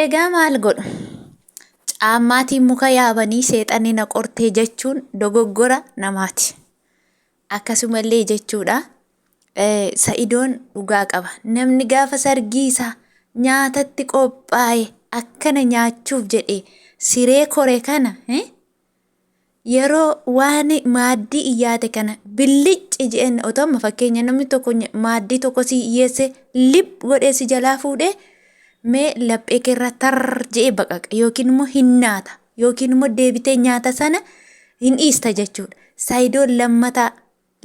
Egaa maal godhu? Caammaatiin muka yaabanii seexanni na qortee jechuun dogoggora namaati. Akkasumallee jechuudha sa'idoon dhugaa qaba. Namni gaafa sargii isaa nyaatatti qophaa'e akkana nyaachuuf jedhe siree kore kana yeroo waan maaddii iyyaate kana billicci je'een otoo amma fakkeenya namni tokko nya- maaddii tokko si hiyyeesse lib godhee si jalaa fuudhee mee laphee keerra tar je'ee baqaqa yookiin immoo hin naata yookiin immoo deebitee nyaata sana hin dhiista jechuudha. Saayidoon lammataa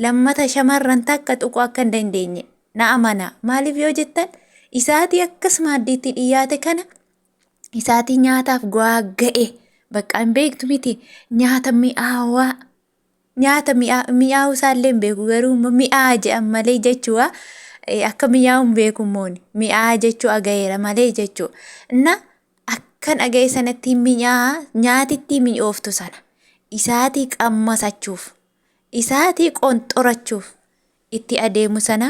lammata shamarran takka tuquu akka hin dandeenye na amanaa maaliif yoo jettan isaatii akkas maaddiitti dhiyaate kana isaatii nyaataaf go'aa ga'e bakka hin beektu miti nyaata mi'aawaa nyaata mi'aawuu isaallee hin beeku garuu mi'aa jedhan malee jechuudha akka mi'aawuu hin beeku mooni mi'aa jechuu aga'eera malee jechuudha na akkan aga'e sanatti mi'aa nyaatitti mi'ooftu sana isaatii qammasachuuf isaatii qonxorachuuf itti adeemu sana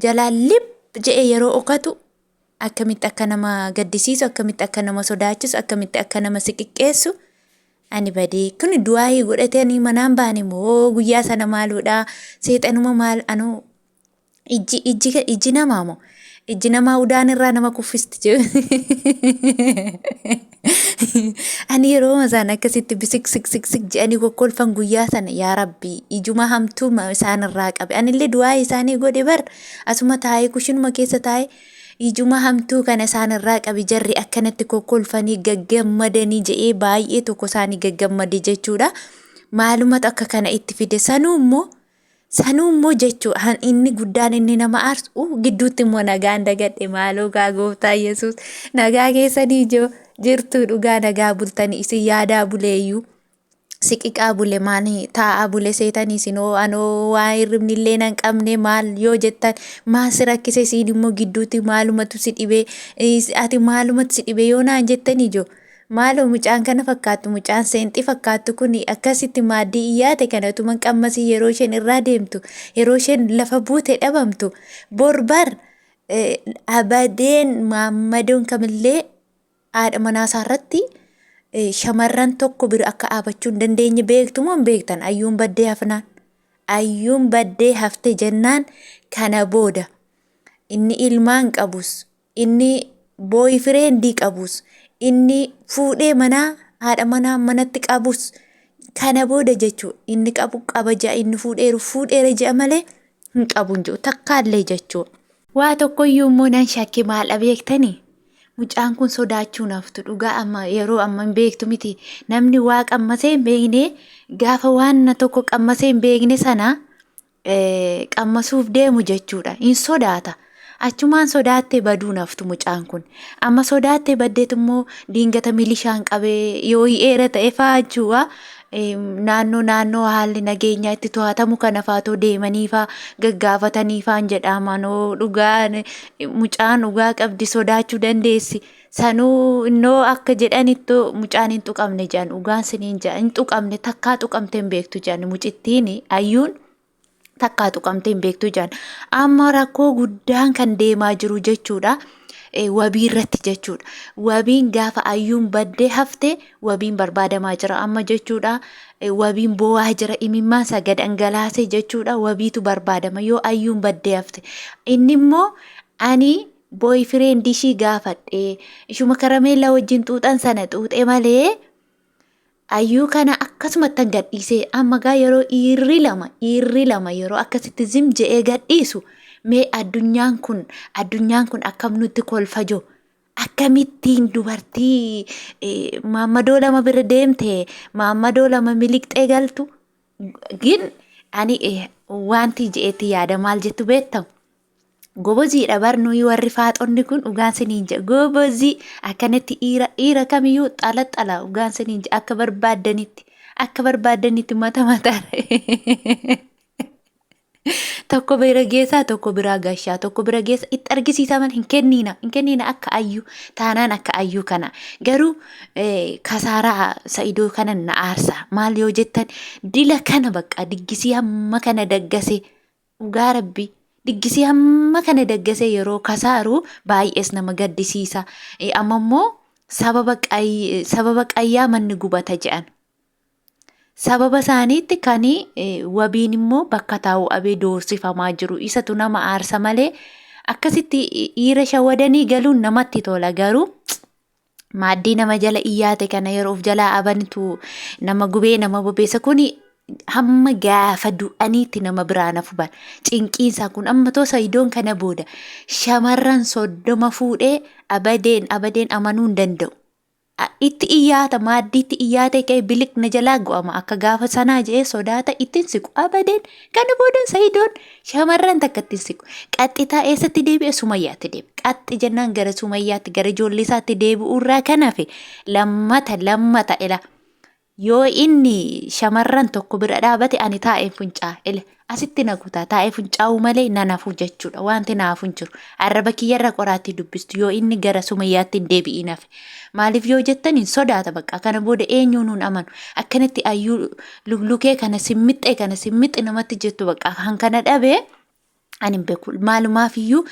jalaa lib je'e yeroo okatu akkamitti akka nama gaddisiisu akkamitti akka nama sodaachisu akkamitti akka nama si xiqqeessu ani badee kun du'aa'ii godhatanii manaan baane moo guyyaa sana maaluudha seexanuma maal anu ijji ijji ijji namaa moo ijji namaa udaan irraa nama kuffisti Ani yeroo isaan akkasitti bisik sik sik sik jedhanii kokkolfan guyyaa sana yaa rabbi ijuma hamtuu ma- isaan irraa qabe. Anillee du'aa isaanii godhe bar asuma taa'ee kushinuma keessa taa'ee ijuma hamtuu kana isaan irraa qabe jarri akkanatti kokkolfanii gaggammadanii jedhee baay'ee tokko isaanii gaggammade jechuudha. Maalumatu akka kana itti fide sanuu immoo Sanuu immoo jechuu han inni guddaan inni nama aarsu uu, gidduutti immoo nagaan dagadhe maaloo gaa gooftaa Yesuus nagaa keessanii ijoo jirtuu dhugaa nagaa bultanii isin yaadaa buleeyyuu siqiqaa bule maan taa'aa bule seetanii isinoo anoo waa hirribni illee nan qabne maal yoo jettan maal si rakkise siin immoo gidduutti maalumatu si dhibee is- ati maalumatu si dhibee yoo naan jettan ijoo Maaloo mucaan kana fakkaattu mucaan seenxi fakkaattu kun akkasitti maaddii iyyaate kana utuman qammasii yeroo isheen irraa deemtu yeroo isheen lafa buute dhabamtu bor bar abadeen maammadoon kamillee haadha manaa isaa irratti shamarran tokko bira akka dhaabachuu hin dandeenye beektu moo hin beektan ayyuun baddee hafnaan ayyuun baddee hafte jennaan kana booda inni ilmaan qabus Inni booyifireendi qabus, inni fuudhee manaa haadha manaa manatti qabus kana booda jechuudha. Inni qabu qaba ja'a inni fuudheeru fuudheera ja'a malee hin qabu hin jiru takkaallee jechuudha. Waa tokkoyyuu immoo nan shakke maal beektani? Mucaan kun sodaachuu naftu dhugaa amma yeroo amma hin beektu miti namni waa qammasee hin beekne gaafa waan tokko qammasee hin beekne sana qammasuuf deemu jechuudha. Hin sodaata. Achumaan sodaattee baduu naftu mucaan kun. Amma sodaattee baddeet immoo diingata milishaan qabee yoo hi'eera ta'e fa'aa jechuudha. Naannoo naannoo haalli nageenyaa itti to'atamu kana faatoo deemanii fa'aa gaggaafatanii fa'aan jedhaamanoo dhugaa mucaan dhugaa qabdi sodaachuu dandeessi. Sanuu innoo akka jedhanittu mucaan hin tuqamne jedhan dhugaan siniin jedha hin tuqamne takkaa tuqamte hin beektu jedhan mucittiin ayyuun takkaa tuqamte hin beektu jedhan amma rakkoo guddaan kan deemaa jiru jechuudha. eh, wabii irratti jechuudha. Wabiin gaafa ayyuun baddee hafte wabiin barbaadamaa jira amma jechuudha. Eh, Wabiin boo'aa jira imimmaan isaa gad dhangalaasee jechuudha. Wabiitu barbaadama yoo ayyuun baddee hafte. Inni immoo ani boyfriend ishii gaafadhe ishuma karameellaa wajjin xuuxan sana xuuxe malee ayyuu kana akkasumattan gadhiisee amma gaa yeroo dhiirri lama dhiirri lama yeroo akkasitti zim je'ee gadhiisu mee addunyaan kun addunyaan kun akkam nutti kolfa jiru akkamittiin dubartii eh, maammadoo lama bira deemte maammadoo lama miliqxee galtu gin ani eh, wanti je'etti yaada maal jettu beektamu Goboziidha bar nuyi warri faaxonni kun dhugaan siniin jedha. Gobozii akkanatti dhiira dhiira kamiyyuu xalaxala dhugaan siniin jedha akka barbaaddanitti akka barbaaddanitti mata mataa tokko bira geessaa tokko biraa gashaa tokko bira geessa itti argisiisaa malee hin kenniina hin kenniina akka ayyuu taanaan akka ayyuu kana garuu eh, kasaaraa sa'idoo kana na aarsa maal yoo jettan dila kana bakka diggisii hamma kana daggasee Dhugaa rabbii diggisii hamma kana daggasee yeroo kasaaru baay'ees nama gaddisiisa. Eh, Amma immoo sababa qay- sababa qayyaa manni gubata jedhan. Sababa isaaniitti kan eh, wabiin immoo bakka taa'u abee doorsifamaa jiru. Isatu nama aarsa malee akkasitti dhiira shawadanii galuun namatti tola garuu maaddii nama jala iyyaate kana yeroo of jalaa abanitu nama gubee nama bobeessa kuni hamma gaafa du'aniitti nama biraa na fuban cinqiinsaa kun amma too sayidoon kana booda shamarran soddoma fuudhee abadeen abadeen amanuu hin danda'u. A- Itti iyyaata maaddiitti iyyaatee ka'ee biliq na jalaa go'ama akka gaafa sanaa je'ee sodaata ittiin siqu abadeen Kana booda Sa'idoon shamarran takka ittiin siqu. Qaxxitaa eessatti deebi'e Sumayyaatti deebi'e. Qaxxi jennaan gara Sumayyaatti gara ijoollee isaatti deebi'uu irraa kan hafe lammata lammata ila. Yoo inni shamarran tokko bira dhaabate ani taa'een funcaa ila. Asitti na guutaa taa'ee funcaa'uu malee na nafuu jechuudha. Wanti naafu hin jiru. Arraba kiyyarra qoraattii dubbistu yoo inni gara Sumayyaatti hin deebi'iin hafe. Maaliif yoo jettan hin sodaata bakka kana booda eenyuu nuun amanu akkanatti ayyuu luglukee kana simmixxee kana simmixxi namatti jettu bakka kan kana dhabee ani hin beeku maalumaaf iyyuu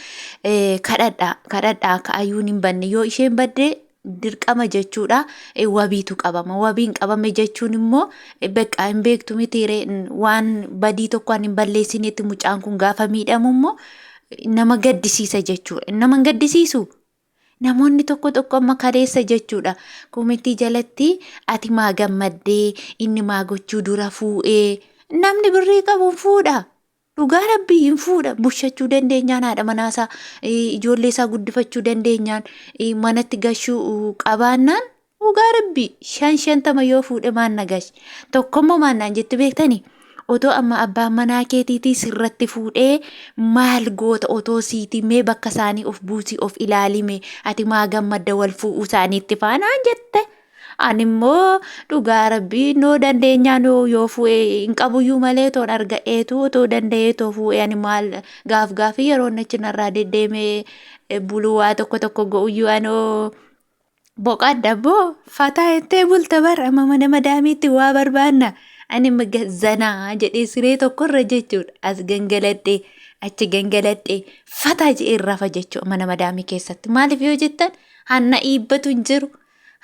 kadhadha kadhadha akka ayyuun hin banne yoo isheen badde dirqama jechuudha wabiitu qabama wabiin qabame jechuun immoo bakka hin beektu mitiire waan badii tokko ani hin balleessinetti mucaan kun gaafa miidhamu immoo nama gaddisiisa jechuudha nama hin gaddisiisu Namoonni tokko tokko amma kaleessa jechuudha komentii jalatti ati maa gammaddee inni maa gochuu dura fuudhee namni birrii qabu hin fuudha. Dhugaa rabbii hin fuudha bushachuu dandeenyaan haadha manaasaa ijoollee isaa guddifachuu dandeenyaan manatti gashuu qabaannaan Dhugaa rabbii shan shantama yoo fuudhe maan nagash tokkommoo maan naan jetti beektani otoo amma abbaan manaa keetiitii sirratti fuudhee maal goota otoo siitii mee bakka isaanii of buusii of ilaalime ati maa gammadda wal fuudhuu isaaniitti faanaan jette ani immoo dhugaa rabbii noo dandeenyaa noo yoo fuudhee hin qabuyyuu malee toon arga'eetu otoo danda'ee too fuudhee ani maal gaaf gaafii yeroo nachi narraa deddeemee buluu waa tokko tokko go'uyyuu anoo boqadha boo fataa jettee bulta bar amma mana madaamiitti waa barbaanna ani maga- zanaa jedhee siree tokkorra jechuudha as gangaladhee achi gangaladhee fataa jedhee rafa jechuudha mana madaamii keessatti maaliif yoo jettan hanna iibbatu hin jiru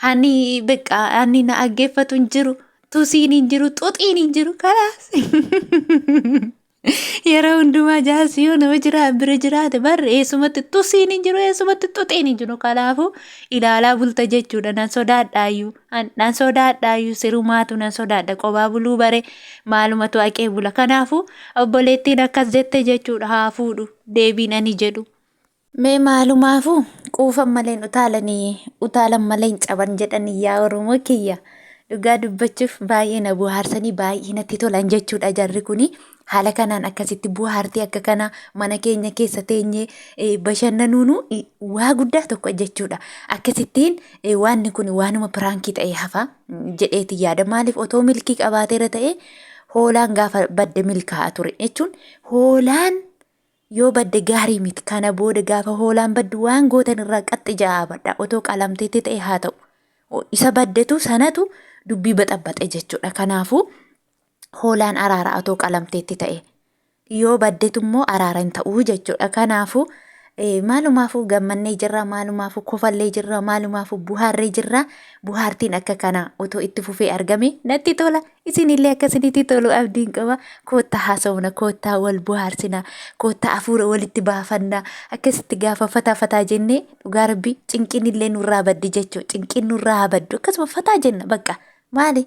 hanni beqqaa hanni na aggeeffatu hin jiru tusiin hin jiru xuxiin hin jiru kalaas Yeroo hundumaa jaarsi yoo nama jiraa bira jiraate barri eessumatti tusiin hin jiru eessumatti tuxiin hin jiru kanaafuu ilaalaa bulta jechuudha nan sodaadhaayyuu an- nan sodaadhaayyuu sirumaatu nan sodaadha qobaa buluu bare maalumatu haqee bula kanaafuu obboleettiin akkas jette jechuudha haa fuudhu deebiin ani jedhu. Mee maalumaafuu quufan malee hin utaalanii utaalan malee hin caban jedhanii yaa Oromoo kiyya. Dhugaa dubbachuuf baay'ee na buhaarsanii baay'ee natti tolan jechuudha jarri kuni. Haala kanaan akkasitti buhaartee akka kana mana keenya keessa teenyee eh, bashannanuunu eh, waa guddaa tokko jechuudha. Akkasittiin eh, waanni kun waanuma piraankii ta'ee hafa mm, jedheeti yaada. Maaliif otoo milkii qabaateera ta'ee hoolaan gaafa badde milkaa'a ture jechuun hoolaan Yoo badde gaarii miti. Kana booda gaafa hoolaan baddu waan gootan irraa qaxxi ja'aa badhaa. Otoo qalamteetti ta'e haa ta'u. Isa baddetu sanatu dubbii baxabbaxe jechuudha. Kanaafuu hoolaan araara otoo qalamteetti ta'e. Yoo baddetu immoo araara hin ta'uu jechuudha. Kanaafuu maalumaafuu gammannee jirra maalumaafuu kofallee jirra maalumaafuu buhaarree jirra buhaartiin akka kanaa otoo itti fufee argame natti tola Isinillee akka isinitti tolu abdiin qaba. Koottaa haasofna, koottaa wal bohaarsina, koottaa hafuura walitti baafanna. Akkasitti gaafa fataa fataa jennee dhugaa rabbii cinqinillee nurraa baddi jechuu. Cinqiin nurraa haa baddu. Akkasuma fataa jenna bakka. Maali?